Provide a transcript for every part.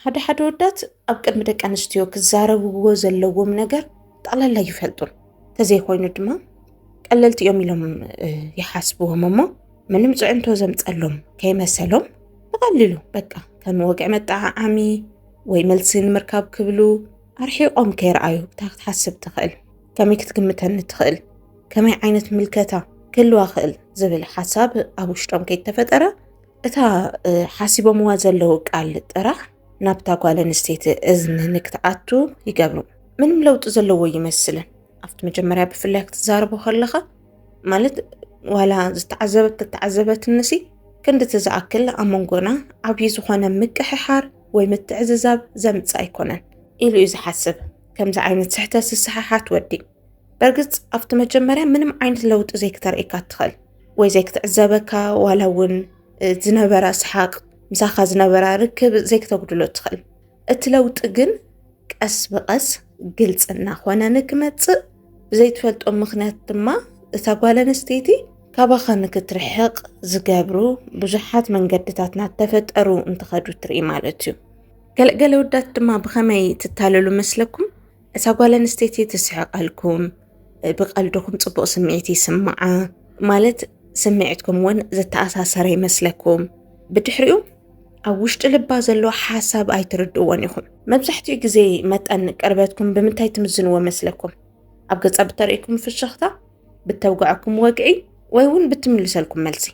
ሓደ ሓደ ወዳት ኣብ ቅድሚ ደቂ ኣንስትዮ ክዛረብዎ ዘለዎም ነገር ጠቕላላ ይፈልጡን ተዘይኮይኑ ድማ ቀለልቲ እዮም ኢሎም ይሓስብዎም እሞ ምንም ፅዕንቶ ዘምፀሎም ከይመሰሎም ብቐሊሉ በቃ ከም ወግዒ መጠዓዓሚ ወይ መልሲ ንምርካብ ክብሉ ኣርሒቖም ከይረኣዩ እታ ክትሓስብ ትኽእል ከመይ ክትግምተኒ ትኽእል ከመይ ዓይነት ምልከታ ክህልዋ ክእል ዝብል ሓሳብ ኣብ ውሽጦም ከይተፈጠረ እታ ሓሲቦምዋ ዘለዉ ቃል ጥራሕ ናብታ ጓል ኣንስተይቲ እዝኒ ንክትኣቱ ይገብሩ። ምንም ለውጢ ዘለዎ ይመስልን። ኣብቲ መጀመርያ ብፍላይ ክትዛረቦ ከለኻ ማለት ዋላ ዝተዓዘበት ተተዓዘበትንሲ ክንዲ እቲ ዝኣክል ኣብ መንጎና ዓብዪ ዝኾነ ምቅሕሓር ወይ ምትዕዝዛብ ዘምፅእ ኣይኮነን ኢሉ እዩ ዝሓስብ። ከምዚ ዓይነት ስሕተት ዝሰሓሓት ወዲ በርግፅ ኣብቲ መጀመርያ ምንም ዓይነት ለውጢ ዘይክተርእካ ትኽእል ወይ ዘይክትዕዘበካ ዋላ እውን ዝነበራ ሰሓቅ ምሳኻ ዝነበራ ርክብ ዘይክተጉድሎ ትኽእል እቲ ለውጢ ግን ቀስ ብቐስ ግልፂ እናኾነ ንክመፅእ ብዘይትፈልጦ ምክንያት ድማ እታ ጓል ኣንስተይቲ ካባኻ ንክትርሕቕ ዝገብሩ ብዙሓት መንገድታት እናተፈጠሩ እንትኸዱ ትርኢ ማለት እዩ ገለገለ ወዳት ድማ ብኸመይ ትታለሉ መስለኩም እታ ጓል ኣንስተይቲ ትስሕቐልኩም፣ ብቐልድኹም ጽቡቕ ስምዒት ይስምዓ ማለት ስምዒትኩም እውን ዝተኣሳሰረ ይመስለኩም። ብድሕሪኡ ኣብ ውሽጢ ልባ ዘሎ ሓሳብ ኣይትርድእዎን ኢኹም። መብዛሕትኡ ግዜ መጠን ቅርበትኩም ብምንታይ ትምዝንዎ መስለኩም? ኣብ ገጻ ብተርእይኩም ፍሽኽታ፣ ብተውግዐኩም ወግዒ፣ ወይ እውን ብትምልሰልኩም መልሲ።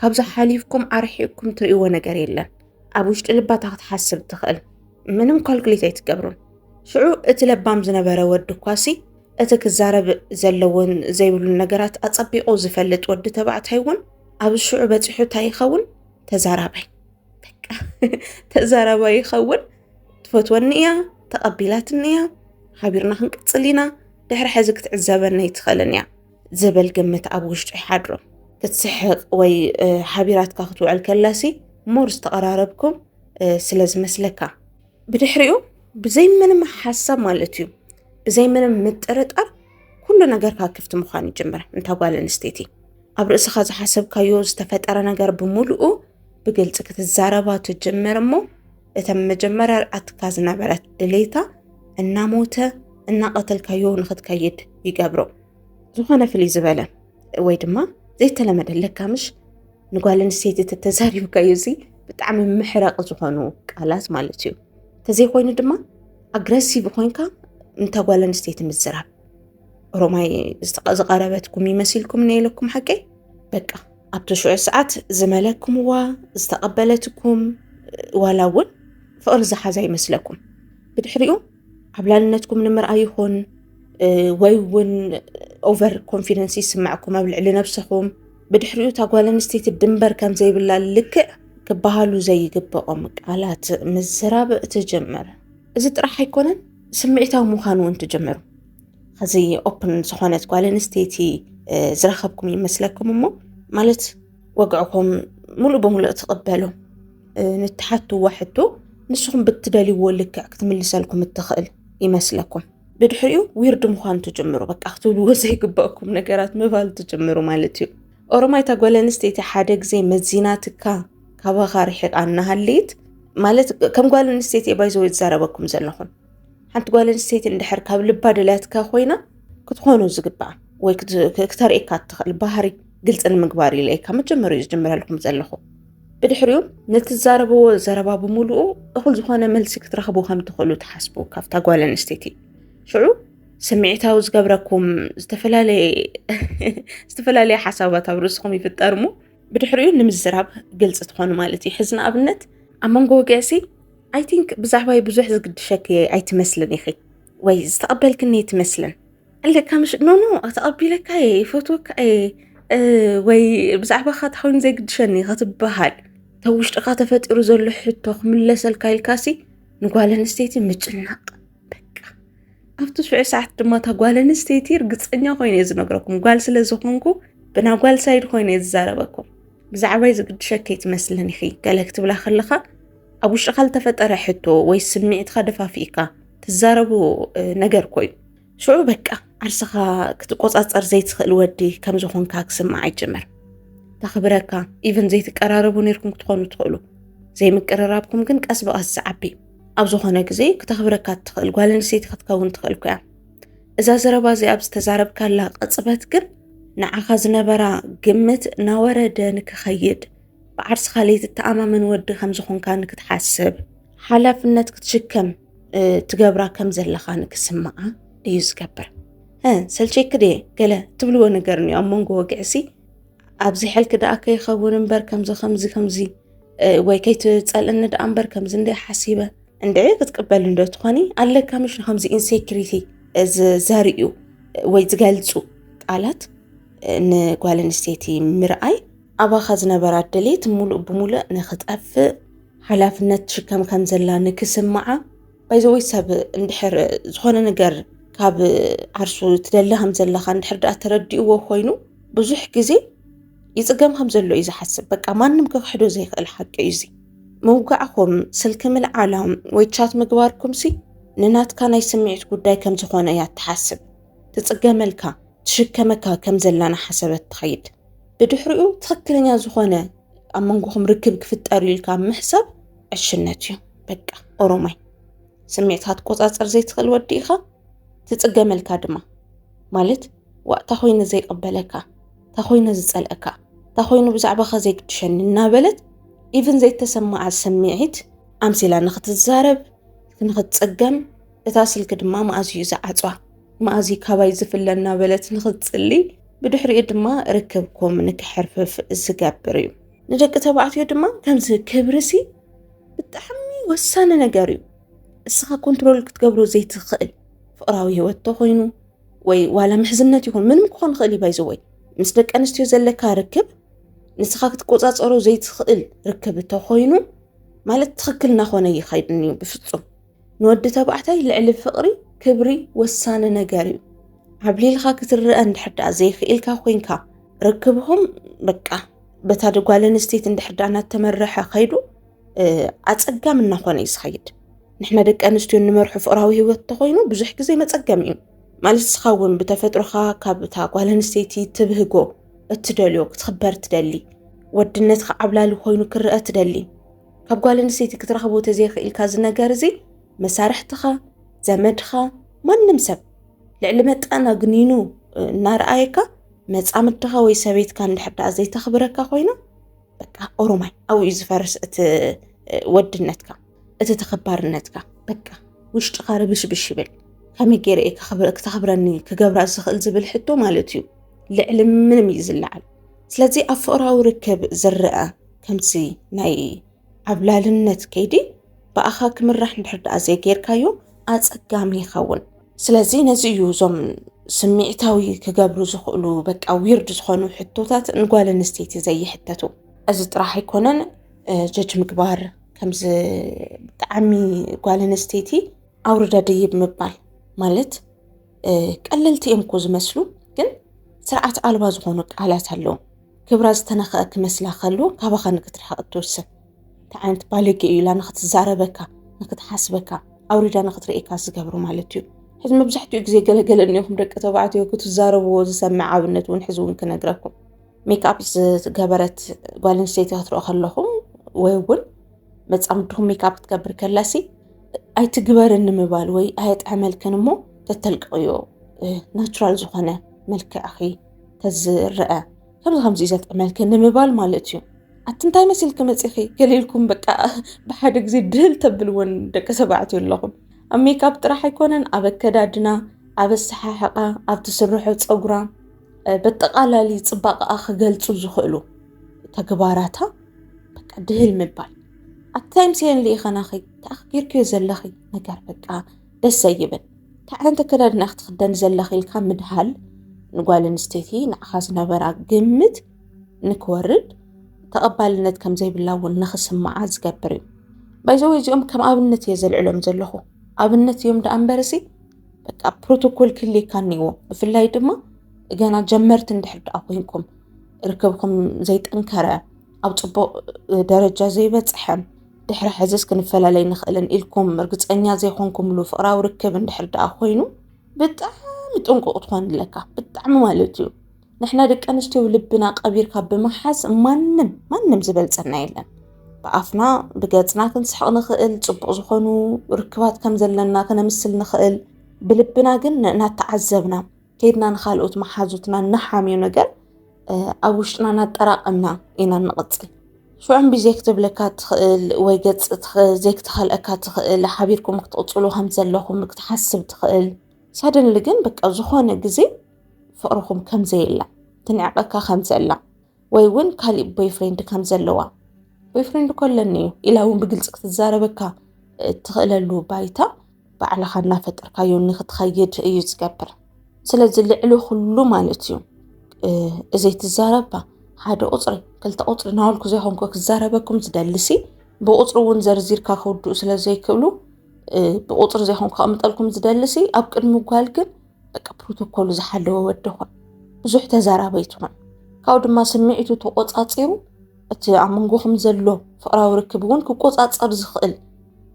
ካብዚ ሓሊፍኩም ኣርሒቕኩም ትርእይዎ ነገር የለን። ኣብ ውሽጢ ልባ እታ ክትሓስብ ትኽእል ምንም ኳልኩሌት ኣይትገብሩን ሽዑ እቲ ለባም ዝነበረ ወዲ ኳሲ እቲ ክዛረብ ዘለዎን ዘይብሉን ነገራት ኣጸቢቑ ዝፈልጥ ወዲ ተባዕታይ እውን ኣብ ሽዑ በፂሑ እንታይ ይኸውን ተዛራባይ በቃ ተዛራባይ ይኸውን ትፈትወኒ እያ ተቐቢላትኒ እያ ሓቢርና ክንቅፅል ኢና ድሕሪ ሕዚ ክትዕዘበኒ ኣይትኽእልን እያ ዝብል ግምት ኣብ ውሽጡ ይሓድሮ ክትስሕቕ ወይ ሓቢራትካ ክትውዕል ከላሲ ሞር ዝተቐራረብኩም ስለ ዝመስለካ ብድሕሪኡ ብዘይ ምንም ሓሳብ ማለት እዩ ብዘይ ምንም ምጥርጣር ኩሉ ነገርካ ክፍቲ ምዃን ይጅምር እንታ ጓል ኣንስተይቲ ኣብ ርእስኻ ዝሓሰብካዮ ዝተፈጠረ ነገር ብምልኡ ብግልፂ ክትዛረባ ትጅምር እሞ እተን መጀመርያ ርኣትካ ዝነበረት ድሌታ እናሞተ እናቐተልካዮ ንክትከይድ ይገብሮ ዝኾነ ፍልይ ዝበለ ወይ ድማ ዘይተለመደ ለካምሽ ንጓል ኣንስተይቲ ተተዛሪብካዮ እዚ ብጣዕሚ ምሕረቕ ዝኾኑ ቃላት ማለት እዩ ተዘይኮይኑ ድማ ኣግረሲቭ ኮንካ እንተ ጓል ኣንስተይቲ ምዝራብ ኦሮማይ ዝቐረበትኩም ይመሲልኩም ነኢለኩም ሓቀይ በቃ ኣብቲ ሽዑ ሰዓት ዝመለክምዋ ዝተቐበለትኩም ዋላ እውን ፍቕሪ ዝሓዛ ይመስለኩም ብድሕሪኡ ዓብላልነትኩም ንምርኣይ ይኹን ወይ እውን ኦቨር ኮንፊደንስ ይስምዐኩም ኣብ ልዕሊ ነብሰኹም ብድሕሪኡ እታ ጓል ኣንስተይቲ ድንበር ከም ዘይብላ ልክዕ ክበሃሉ ዘይግበኦም ቃላት ምዝራብ ትጀምር እዚ ጥራሕ ኣይኮነን ስምዒታዊ ምዃኑ እውን ትጀምሩ ከዚ ኦፕን ዝኾነት ጓል ኣንስተይቲ ዝረኸብኩም ይመስለኩም እሞ ማለት ወግዕኹም ሙሉእ ብሙሉእ ትቕበሉ ንትሓትዋ ሕቶ ንስኹም ብትደልይዎ ልክዕ ክትምልሰልኩም እትኽእል ይመስለኩም ብድሕሪኡ ዊርድ ምዃን ትጅምሩ በቃ ክትብልዎ ዘይግበእኩም ነገራት ምባል ትጅምሩ ማለት እዩ ኦሮማይ እታ ጓል ኣንስተይቲ ሓደ ግዜ መዚናትካ ካባኻ ርሒቓ እናሃለየት ማለት ከም ጓል ኣንስተይቲ ባይዘ ዝዛረበኩም ዘለኹም ሓንቲ ጓል ኣንስተይቲ እንድሕር ካብ ልባ ደልያትካ ኮይና ክትኾኑ ዝግባእ ወይ ክተርእካ እትኽእል ባህሪ ግልፂ ንምግባር ኢለ ካብ መጀመሪኡ ዝጀምረልኩም ዘለኹ ብድሕሪኡ ንትዛረብዎ ዘረባ ብምሉኡ እኹል ዝኾነ መልሲ ክትረኽቡ ከም ትኽእሉ ትሓስቡ ካብታ ጓል ኣንስተይቲ ሽዑ ስምዒታዊ ዝገብረኩም ዝተፈላለየ ሓሳባት ኣብ ርእስኹም ይፍጠር እሞ ብድሕሪኡ ንምዝራብ ግልፂ ትኾኑ ማለት እዩ ሕዚ ንኣብነት ኣብ መንጎ ወግዕሲ ኣይ ቲንክ ብዛዕባይ ብዙሕ ዝግድሸኪ ኣይትመስልን ኢኺ ወይ ዝተቐበልክኒ ኣይትመስልን ኣለካ ምሽ ኖኖ ተቐቢለካ እየ ይፈትወካ እየ ወይ ብዛዕባኻ ታኮይኑ ዘይግድሸኒ ኸትበሃል ተብ ውሽጥኻ ተፈጢሩ ዘሎ ሕቶ ክምለሰልካ ኢልካሲ ንጓል ኣንስተይቲ ምጭናቕ በቃ ኣብቲ ሽዑ ሰዓት ድማ እታ ጓል ኣንስተይቲ ርግፀኛ ኮይኑ እየ ዝነግረኩም ጓል ስለ ዝኾንኩ ብና ጓል ሳይድ ኮይኑ እየ ዝዛረበኩም ብዛዕባይ ዝግድሸከይ ትመስለን ኢኺ ገለ ክትብላ ከለኻ ኣብ ውሽጥኻ ዝተፈጠረ ሕቶ ወይ ስምዒትካ ደፋፊእካ ትዛረቡ ነገር ኮይኑ ሽዑ በቃ ዓርስኻ ክትቆፃፀር ዘይትኽእል ወዲ ከም ዝኾንካ ክስማዕ ይጀመር ተኽብረካ ኢቨን ዘይትቀራረቡ ነርኩም ክትኾኑ ትኽእሉ ዘይምቅርራብኩም ግን ቀስ ብቐስ ዝዓቢ ኣብ ዝኾነ ግዜ ክተኽብረካ እትኽእል ጓል ኣንስተይቲ ክትከውን ትኽእል ኮያ እዛ ዘረባ እዚ ኣብ ዝተዛረብካላ ቅፅበት ግን ንዓኻ ዝነበራ ግምት ናወረደ ንክኸይድ ብዓርስኻ ለይትተኣማመን ወዲ ከም ዝኾንካ ንክትሓስብ ሓላፍነት ክትሽከም ትገብራ ከም ዘለኻ ንክስምዓ እዩ ዝገብር ሰልቸይክ ድየ ገለ ትብልዎ ነገር እኒኦ ኣብ መንጎ ወግዕሲ ኣብዚ ሕልኪ ደኣ ከይኸውን እምበር ከምዚ ከምዚ ከምዚ ወይ ከይትፀልእኒ ደኣ እምበር ከምዚ እንደ ሓሲበ እንደ ክትቅበል እንዶ ትኾኒ ኣለካ ምሽ ከምዚ ኢንሴክሪቲ ዘርእዩ ወይ ዝገልፁ ቃላት ንጓል ኣንስተይቲ ምርኣይ ኣባኻ ዝነበራ ድሌት ሙሉእ ብሙሉእ ንክጠፍእ ሓላፍነት ትሽከም ከም ዘላ ንክስምዓ ባይዘወይ ሰብ እንድሕር ዝኾነ ነገር ካብ ዓርሱ ትደሊ ከም ዘለኻ እንድሕር ድኣ ተረዲእዎ ኮይኑ ብዙሕ ግዜ ይፅገም ከም ዘሎ እዩ ዝሓስብ። በቃ ማንም ክክሕዶ ዘይኽእል ሓቂ እዩ እዚ። ምውጋዕኹም፣ ስልኪ ምልዓላም ወይ ቻት ምግባርኩምሲ ንናትካ ናይ ስምዒት ጉዳይ ከም ዝኾነ እያ እትሓስብ። ትፅገመልካ ትሽከመካ ከም ዘላና ሓሰበት ትኸይድ። ብድሕሪኡ ትክክለኛ ዝኾነ ኣብ መንጎኹም ርክብ ክፍጠር ኢልካ ምሕሳብ ዕሽነት እዩ በቃ ኦሮማይ ስሜትካ ትቆፃፀር ዘይትኽእል ወዲ ኢኻ ትፅገመልካ ድማ ማለት ዋእ እታ ኮይነ ዘይቀበለካ እታ ኮይነ ዝፀልአካ እታ ኮይኑ ብዛዕባኻ ዘይግድሸኒ እናበለት ኢቭን ዘይተሰማዓ ስምዒት ኣምሲላ ንክትዛረብ ንክትፅገም እታ ስልኪ ድማ መኣዝዩ ዝዓፅዋ መኣዚ ካባይ ዝፍለ እናበለት ንኽትጽሊ ብድሕሪኡ ድማ ርክብኩም ንክሕርፍፍ ዝገብር እዩ ንደቂ ተባዕትዮ ድማ ከምዚ ክብርሲ ብጣዕሚ ወሳኒ ነገር እዩ እስኻ ኮንትሮል ክትገብሮ ዘይትኽእል ፍቕራዊ ህይወት ተኾይኑ ወይ ዋላ ምሕዝነት ይኹን ምንም ክኾን ይኽእል እዩ ባይዘወይ ምስ ደቂ ኣንስትዮ ዘለካ ርክብ ንስኻ ክትቆፃፀሮ ዘይትኽእል ርክብ ተኾይኑ ማለት ትኽክል እናኾነ ይኸይድን እዩ ብፍፁም ንወዲ ተባዕታይ ልዕሊ ፍቕሪ ክብሪ ወሳኒ ነገር እዩ። ዓብሊልካ ክትረአ እንድሕር ደኣ ዘይክኢልካ ኮይንካ ርክብኹም በቃ በታ ጓል ኣንስተይቲ እንድሕር ደኣ እናተመረሐ ከይዱ ኣጸጋሚ እናኾነ እዩ ዝኸይድ። ንሕና ደቂ ኣንስትዮ እንመርሑ ፍቅራዊ ሂወት እንተኮይኑ ብዙሕ ግዜ መፀገም እዩ ማለት እስኻ እውን ብተፈጥሮኻ ካብታ ጓል ኣንስተይቲ ትብህጎ እትደልዮ ክትኽበር ትደሊ ወድነትካ ዓብላሊ ኮይኑ ክረአ ትደሊ ካብ ጓል ኣንስተይቲ ክትረኽቦ ተዘይኽኢልካ እዚ ነገር እዚ መሳርሕትኻ ዘመድኻ ማንም ሰብ ልዕሊ መጠን ኣግኒኑ እናረኣየካ መፃምድኻ ወይ ሰበይትካ እንድሕር ደኣ ዘይተኽብረካ ኮይና በቃ ኦሮማይ ኣብኡ እዩ ዝፈርስ እቲ ወድነትካ እቲ ተኸባርነትካ በቃ ውሽጥኻ ርብሽብሽ ይብል ከመይ ገይረ እየ ክተኽብረኒ ክገብራ ዝኽእል ዝብል ሕቶ ማለት እዩ ልዕሊ ምንም እዩ ዝለዓል ስለዚ ኣብ ፍቕራዊ ርክብ ዝረአ ከምዚ ናይ ዓብላልነት ከይዲ ብኣኻ ክምራሕ እንድሕር ደኣ ዘይጌርካዮ ኣጸጋሚ ይኸውን። ስለዚ ነዚ እዩ እዞም ስምዒታዊ ክገብሩ ዝኽእሉ በቃ ዊርድ ዝኾኑ ሕቶታት ንጓል ኣንስተይቲ ዘይሕተቱ። እዚ ጥራሕ ኣይኮነን ጀጅ ምግባር ከምዚ ብጣዕሚ ጓል ኣንስተይቲ ኣውርዳ ደይብ ምባል ማለት ቀለልቲ እዮም እኮ ዝመስሉ ግን ስርዓት ኣልባ ዝኾኑ ቃላት ኣለዉ። ክብራ ዝተነኸኣ ክመስላ ከሎ ካባኻ ንክትርሕቕ እትውስን እንታይ ዓይነት ባለጌ እዩ ኢላ ንክትዛረበካ ንክትሓስበካ ኣውሪዳ ንክትርእካ ዝገብሩ ማለት እዩ ሕዚ መብዛሕትኡ ግዜ ገለገለ እኒኹም ደቂ ተባዕትዮ ክትዛረብዎ ዝሰምዕ ኣብነት እውን ሕዚ እውን ክነግረኩም ሜክኣፕ ዝገበረት ጓል ኣንስተይቲ ክትረኦ ከለኹም ወይ እውን መፃምድኹም ሜክኣፕ ክትገብር ከላሲ ኣይትግበር ንምባል ወይ ኣየጥዕመልክን እሞ ተተልቅቕዮ ናቹራል ዝኾነ መልክዕኺ ተዝረአ ከምዚ ከምዚ እዩ ዘጥዕመልኪ ንምባል ማለት እዩ ኣቲ እንታይ መሲልኪ መፂኺ ገሊልኩም በቃ ብሓደ ግዜ ድህል ተብል እውን ደቂ ተባዕትዮ ኣለኹም ኣብ ሜካፕ ጥራሕ ኣይኮነን ኣብ ኣከዳድና ኣብ ኣሰሓሕቓ ኣብ ትስርሖ ፀጉራ በጠቓላሊ ፅባቐኣ ክገልፁ ዝኽእሉ ተግባራታ በቃ ድህል ምባል ኣብቲ ታይም ሲኤን ልኢኸናኺ ተኣኽቢርክዮ ዘለኺ ነገር በቃ ደስ ዘይብል እንታይ ዓይነት ኣከዳድና ክትኽደን ዘለኺ ኢልካ ምድሃል ንጓል ኣንስተይቲ ንዓኻ ዝነበራ ግምት ንክወርድ ተቐባልነት ከም ዘይብላ እውን ንክስምዓ ዝገብር እዩ ባይዘወ እዚኦም ከም ኣብነት እየ ዘልዕሎም ዘለኹ ኣብነት እዮም ደኣ እምበር እዚ በቃ ፕሮቶኮል ክልካ እኒዎ ብፍላይ ድማ ገና ጀመርቲ እንድሕር ደኣ ኮንኩም ርክብኩም ዘይጠንከረ ኣብ ፅቡቕ ደረጃ ዘይበፅሐ ድሕሪ ሕዝስ ክንፈላለይ ንኽእልን ኢልኩም ርግፀኛ ዘይኮንኩምሉ ፍቕራዊ ርክብ እንድሕር ደኣ ኮይኑ ብጣዕሚ ጥንቁቕ ትኾን ኣለካ ብጣዕሚ ማለት እዩ ንሕና ደቂ ኣንስትዮ ልብና ቀቢርካ ብምሓዝ ማንም ማንም ዝበልፀና የለን ብኣፍና ብገፅና ክንስሕቕ ንኽእል ፅቡቕ ዝኾኑ ርክባት ከም ዘለና ክነምስል ንኽእል ብልብና ግን እናተዓዘብና ከይድና ንካልኦት መሓዙትና እነሓምዮ ነገር ኣብ ውሽጥና እናጠራቐምና ኢና ንቕፅል። ሽዑ እምቢ ዘይክትብለካ ትኽእል ወይ ገፅ ዘይክትኸልአካ ትኽእል ሓቢርኩም ክትቕፅሉ ከም ዘለኹም ክትሓስብ ትኽእል። ሳደንሊ ግን በቃ ዝኾነ ግዜ ፍቕርኹም ከም ዘየላ ትንዕቐካ ከም ዘላ ወይ እውን ካሊእ ቦይፍሬንድ ከም ዘለዋ ቦይፍሬንድ እኮ ኣለኒ እዩ ኢላ እውን ብግልፂ ክትዛረበካ እትኽእለሉ ባይታ ባዕልኻ እናፈጠርካዮ ንክትኸይድ እዩ ዝገብር ስለዚ ልዕሊ ኩሉ ማለት እዩ እዘይ ትዛረባ ሓደ ቁፅሪ ክልተ ቁፅሪ ናበልኩ ዘይኮንኩ ክዛረበኩም ዝደልሲ ብቁፅሪ እውን ዘርዚርካ ክውድኡ ስለ ዘይክእሉ ብቁፅሪ ዘይኮንኩ ከቕምጠልኩም ዝደልሲ ኣብ ቅድሚ ጓል ግን በቃ ፕሮቶኮሉ ዝሓለወ ወዲ ኾን ብዙሕ ተዛራቢ ኣይትኹን ካብኡ ድማ ስምዒቱ ተቆፃፂሩ እቲ ኣብ መንጎኹም ዘሎ ፍቅራዊ ርክብ እውን ክቆፃፀር ዝኽእል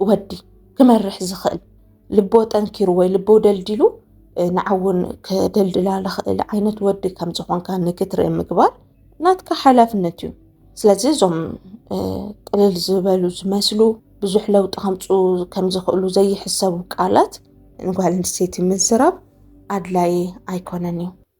ወዲ ክመርሕ ዝኽእል ልቦ ጠንኪሩ ወይ ልቦ ደልዲሉ ንዓውን ክደልድላ ዝኽእል ዓይነት ወዲ ከም ዝኾንካ ንክትርኢ ምግባር ናትካ ሓላፍነት እዩ ስለዚ እዞም ቅልል ዝበሉ ዝመስሉ ብዙሕ ለውጢ ከምፅኡ ከም ዝኽእሉ ዘይሕሰቡ ቃላት ንጓል ኣንስተይቲ ምዝራብ ኣድላዪ ኣይኮነን እዩ።